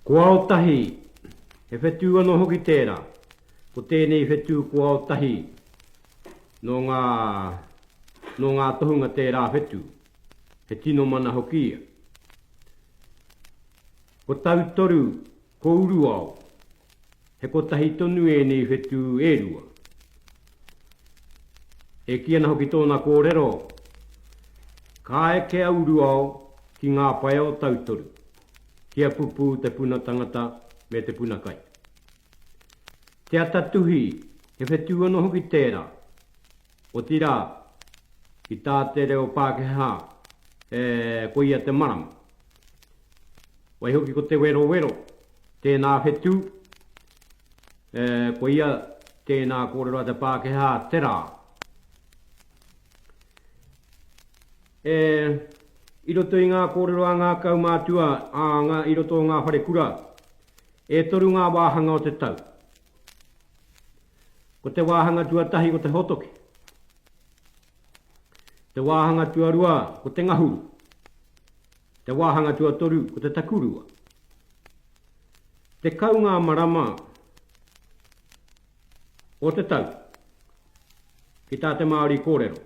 Ko ao tahi, he whetū anō hoki tērā. Ko tēnei whetū ko ao tahi, nō ngā, nō ngā tohunga tērā whetū. He tino mana hoki ia. Ko tautoru, ko uruao, he kotahi tonu ēnei whetū e rua. E kī ana hoki tōna kōrero, Ka eke a uruao ki ngā pae o tautoru. Kia pupū te puna tangata me te puna kai. Te ata tuhi, he whetū anō hoki tērā. Otirā, ki tā te reo Pākehā, e, koia te marama. Waihoki ko te werowero, tēnā whetū, e, koia tēnā kōrero a te Pākehā, te rā. E, i roto i ngā kōrero a ngā kaumātua, ā, ngā, i roto o ngā wharekura, e toru ngā wāhanga o te tau. Ko te wāhanga tuatahi ko te hotoke. Te wāhanga tuarua ko te ngahuru. Te wāhanga tuatoru ko te takurua. Te kau ngā marama o te tau ki tā te Māori kōrero.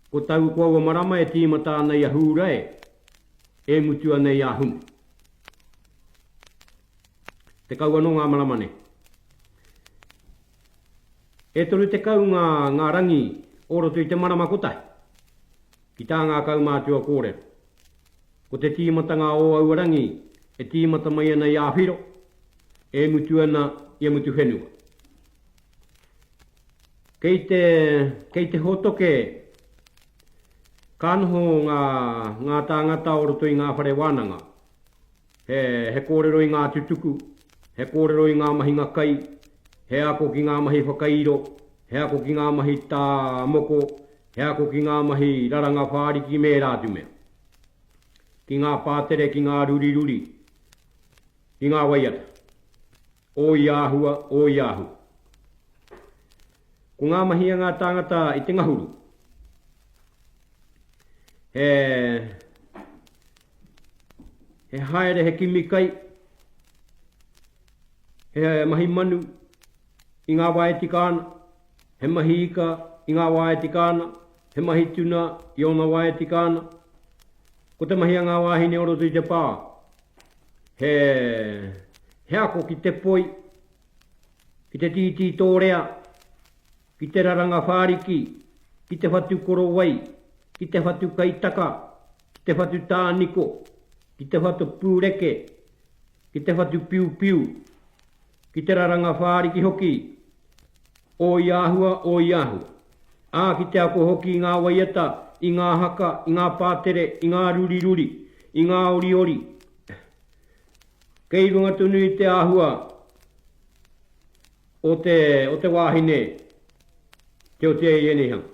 Ko tau ko aua marama e tīmata ana i a Hūrae e mutu ana i a Hune. Tekau anō ngā marama nei. E toru tekau ngā, ngā rangi o roto i te marama kotahi, ki tā ngā kaumātua kōrero. Ko te tīmatanga o aua rangi e tīmata mai ana i a Whiro, e mutu ana i a Mutuwhenua. Kei te, kei te hōtoke ka noho ngā, ngā tāngata o roto i ngā whare wānanga. He, he kōrero i ngā tutuku, he kōrero i ngā mahinga kai, he ako ki ngā mahi whakairo, he ako ki ngā mahi tā moko, He ako ki ngā mahi raranga whāriki me ērā atu mea, ki ngā pātere, ki ngā ruriruri, ki ngā waiata, o ia āhua, o ia āhua. Ko ngā mahi a ngā tāngata i te ngahuru, he, he haere, he kimi kai, he mahi manu, i ngā wā e tika ana, he mahi ika i ngā wā e tika ana, he mahi tuna i ōna wā e tika ana. Ko te mahi a ngā wāhine o roto i te pā, he, he ako ki te poi, ki te tītī tōrea, ki te raranga whāriki, ki te whatu korowai, ki te whatu kaitaka, ki te whatu tāniko, ki te whatu pūreke, ki te whatu piupiu, Ki te raranga whāriki hoki, o i āhua, o i āhua. Ā, ki te ako hoki i ngā waiata, i ngā haka, i ngā pātere, i ngā ruriruri, i ngā oriori, kei runga tonu i te āhua o te, o te wāhine, te otiaia i ēnei hanga.